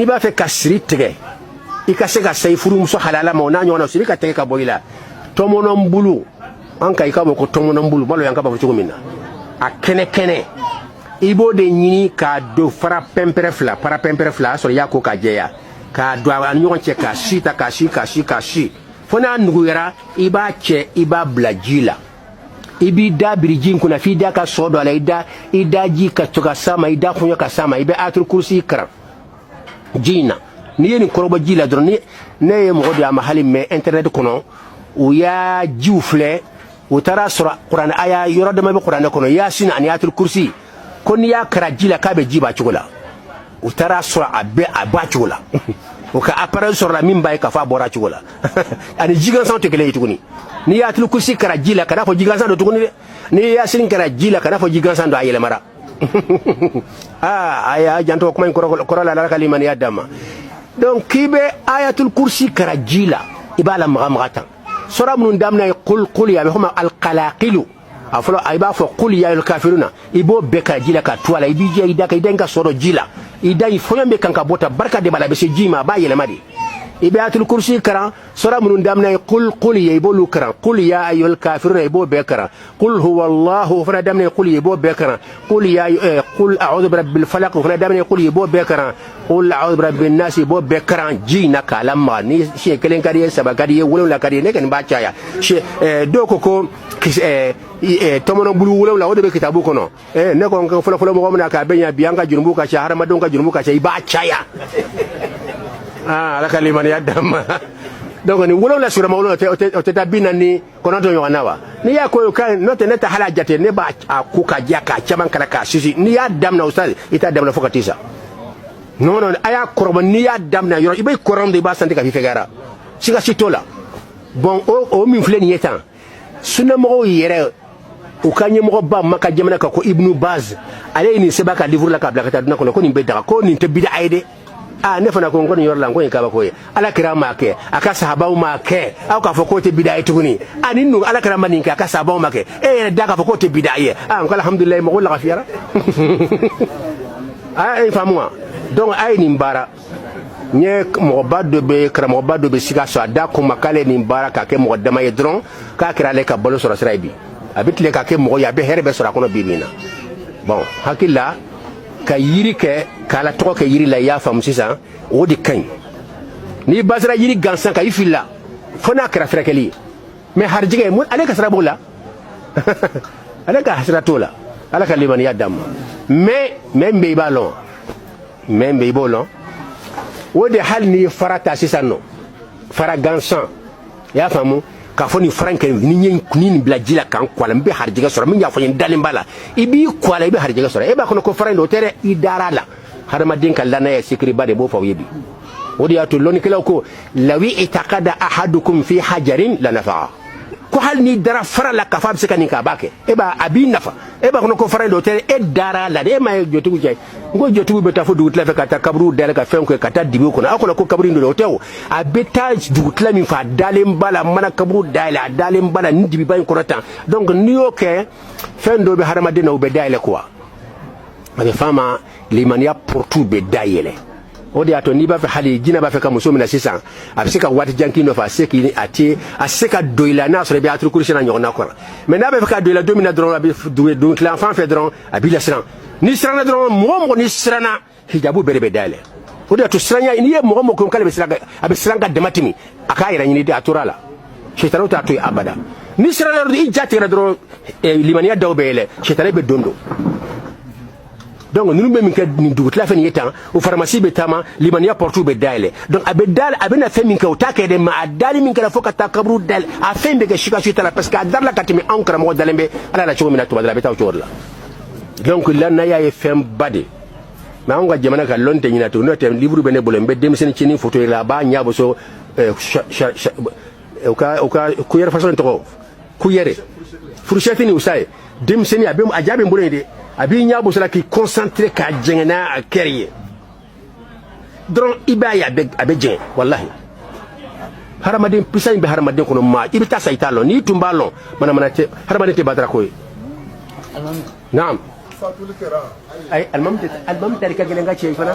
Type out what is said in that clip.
n'i b'a fɛ ka siri tigɛ i ka se ka sayi furumuso halala ma o n'a ɲɔgɔnna siri ka tɛgɛ ka bɔ i la tɔmɔnɔnbulu an ka i ka bɔ ko tɔmɔnɔnbulu mali yankaw b'a fɔ cogo min na a kɛnɛ kɛnɛ i b'o de ɲini k'a don fara pɛnpɛrɛ fila fara pɛnpɛrɛ fila a sɔrɔ i y'a ko k'a jɛya k'a don a ni ɲɔgɔn cɛ k'a si tan k'a si k'a si k'a si fo n'a nuguyara i b'a cɛ i b'a bila ji la i b'i da biri ji in kunna f'i da ka sɔ don a la i da i da ji ka to ka s'a ma i da fɔɲɔ ka s'a ma i bɛ ayatul kursi karan ji in na n'i ye nin kɔrɔbɔ ji la dɔrɔn ni ne ye mɔgɔ don a ma hali même internet kɔnɔ u y'a jiw filɛ u taara sɔrɔ kuranɛ aya yɔrɔ dama bɛ kuranɛ kɔnɔ yasin ani ayatul kursi ko n'i y'a karan ji la k'a bɛ ji b'a cogo la u taara sɔrɔ a bɛ a b'a cogo la o ka appareil sɔrɔla min b'a ye k'a fɔ a bɔra cogo la ani ji gansanw tɛ kelen ye tuguni n'i y'ayatul kursi karan ji la kana fɔ ji gansan don tuguni dɛ n'i yasini karan ji la kana fɔ ji gansan don a yɛlɛmara aa a y'a janto kuma in kɔrɔ la ala ka limaniya d'an ma donc k'i bɛ ayatul kursi karan ji la i b'a lamaga maga tan sura minnu daminɛ ye kul kul ye a bɛ fɔ ma alkalakilu a fɔlɔ i b'a fɔ kul ya ayyuhal kafiruna i b'o bɛɛ karan ji la ka to a la i b'i jɛ i da ka i da in ka sɔrɔ ji la i da i fɔɲɔ bɛ kan ka bɔ tan barika de b'a la a bɛ se ji ma a b'a yɛlɛma de i bɛ ayatul kursi karan sura minnu daminɛ ye kul kul ye i b'olu karan kul ya ayyuhal kafiruna i b'o bɛɛ karan kul huwallahu o fana daminɛ ye kul ye i b'o bɛɛ karan kul ya kul a'udhu birabbil falaq o fana daminɛ ye kul ye i b'o bɛɛ karan kul a'udhu birabbin nas i b'o bɛɛ karan ji in na k'a lamaga ni siɲɛ kelen ka d'i ye saba ka d'i ye wolonwula ka d'i ye ne kɔni b'a caya dɔw ko ko Eh, eh, tɔmɔnɔ bulu wolonwula o de bɛ kitabu kɔnɔ eh, ne ko n ko fɔlɔfɔlɔ mɔgɔ min na k'a bɛ ɲa bi an ka jurumu ka ca hadamadenw ka jurumu ka ca i b'a caya ah, ala ka limaniya d'an ma donc nin wolonwula sigiyɔrɔma wolonwula o tɛ taa bi naani ni kɔnɔntɔn ɲɔgɔn na wa n'i y'a ko ka n'o tɛ ne tɛ hali a jate ne b'a a ko ka diya k'a caman kala k'a sisi n'i y'a daminɛ o sa i t'a daminɛ fo ka t'i sa non non a y'a kɔrɔbɔ n'i y'a daminɛ yɔrɔ i bɛ kɔrɔ min i b'a santi k'a f'i fɛgɛyara siga si t'o la bon o min filɛ nin ye tan sunamɔgɔw yɛrɛ u ka ɲɛmɔgɔba maka jamana kan ko ibnu baz ale ye nin sɛbɛn a ka livuru la k'a bila ka taa duniya kɔnɔ ko nin bɛ daga ko nin tɛ bida ye dɛ aa ne fana ko n ko nin yɔrɔ la n ko o ye kabako ye ala kira m'a kɛ a ka sahabaw m'a kɛ aw k'a fɔ k'o tɛ bida ye tuguni a nin nu ala kira ma nin kɛ a ka sahabaw m'a kɛ e yɛrɛ da k'a fɔ k'o tɛ bida ye aa n ko alhamdulilayi mɔgɔw lagafiyara a y'a faamu wa donc a ye nin baara n ye mɔgɔba dɔ bɛ karamɔgɔba dɔ bɛ sikaso a de ko n ma k'ale nin baara k'a kɛ mɔgɔ dama ye dɔrɔn k'a kɛra ale ka balo sɔrɔ sira ye bi a bɛ tile k'a kɛ mɔgɔ ye a bɛ hɛrɛ bɛɛ sɔrɔ a kɔnɔ bi min na bon hakili la ka yiri kɛ k'ala tɔgɔ kɛ yiri la i y'a faamu sisan o de ka ɲi n'i basira yiri gansan kan i filila fo n'a kɛra furakɛli ye mais harijɛgɛ ale ka sira b'o la ale ka sira t'o la ala ka limaniya d'an ma mais mais min bɛ i b'a lɔn mɛ bɛ i b'o lɔn o de hali n'i ye fara ta sisan nɔ fara gansan i y'a faamu k'a fɔ nin fara in kɛ ni n ye nin bila ji la ka n ko a la n bɛ harijɛgɛ sɔrɔ min y'a fɔ n ye dalen b'a la i b'i ko a la i bɛ harijɛgɛ sɔrɔ e b'a kɔnɔ ko fara in don o tɛ dɛ i dar'a la hadamaden ka lannaya sikiriba de b'o fɔ aw ye bi o de y'a to lɔnnikɛlaw ko lawi itakada ahadukum fi hajarin lanafa'a ko hali n'i dara fara la k'a fɔ a bɛ se ka nin kɛ a b'a kɛ e b'a a b'i nafa e b'a kɔnɔ ko fara in don o tɛ e dar'a la de e m'a ye jotigiw cɛ n ko jotigiw bɛ taa fo dugutila fɛ ka taa kaburuw dayɛlɛ ka fɛnw kɛ ka taa dibiw kɔnɔ aw kɔnɔ ko kaburu don o tɛ o a bɛ taa dugutila min fɛ a dalen b'a la mana kaburu dayɛlɛ a dalen b'a la nin dibiba in kɔnɔ tan donc n'i y'o kɛ fɛn dɔ bɛ hadamaden na o bɛ dayɛlɛ quoi a bɛ f'a ma limaniya portu bɛ dayɛlɛ o de y'a to n'i b'a fɛ hali jinɛ b'a fɛ ka muso minɛ sisan a bɛ se ka waati jan k'i nɔfɛ a se k'i a tɛ se ka don i la n'a sɔrɔ i bɛ ayatul kursi n'a ɲɔgɔnna kɔrɔ mɛ n'a b'a fɛ ka don i la don min na dɔrɔn a bɛ don tilan fan fɛ dɔrɔn a b'i lasiran n'i siranna dɔrɔn mɔgɔ mɔgɔ n'i siranna hijabu bɛɛ de bɛ dayɛlɛ o de y'a to siranya n'i ye mɔgɔ mɔgɔ ko k'ale bɛ siran a bɛ siran ka dama tɛmɛ a k'a yɛrɛ ɲini de a tora a la sitaniw t'a to yen abada n'i siranna dɔrɔn i ja tigɛra dɔrɔn limaniya daw bɛ yɛlɛ sitani bɛ don don donc ninnu bɛ min kɛ nin dugutila fɛ nin ye tan o faramasi bɛ taama limaniya pɔrɔtiw bɛ dayɛlɛ donc a bɛ da a bɛna fɛn min kɛ o t'a kɛ dɛ mɛ a dali min kɛra fo ka taa kaburu dayɛlɛ a fɛn bɛ kɛ sikasika t'a la parce que a dar'a la ka tɛmɛ anw karamɔgɔ dalen bɛ ala la cogo min na tuma dɔ la a bɛ taa o cogo de la donc lannaya ye fɛnba de mɛ anw ka jamana ka lɔn tɛ ɲina to n'o tɛ livre bɛ ne bolo n bɛ denmisɛnnin cinin foto ye a la a b'a ɲɛ boso eh, u ka u ka kuyɛrɛ fasɔn tɔgɔ kuyɛrɛ furushɛti ni usa ye denmisɛnnin a bɛ a ja bɛ n bolo yen de a b'i ɲɛ boso la k'i concentré k'a jɛngɛ n'a hakili ye dɔrɔn i b'a ye a bɛ a bɛ jɛngɛ walahi hadamaden puissance min bɛ hadamaden kɔnɔ maa i bɛ taa sa i t'a lɔn n'i tun b'a lɔn manamana tɛ hadamaden tɛ batara ko ye naam ayi alimami tɛ alimami tari ka gɛlɛn ka cɛ i fana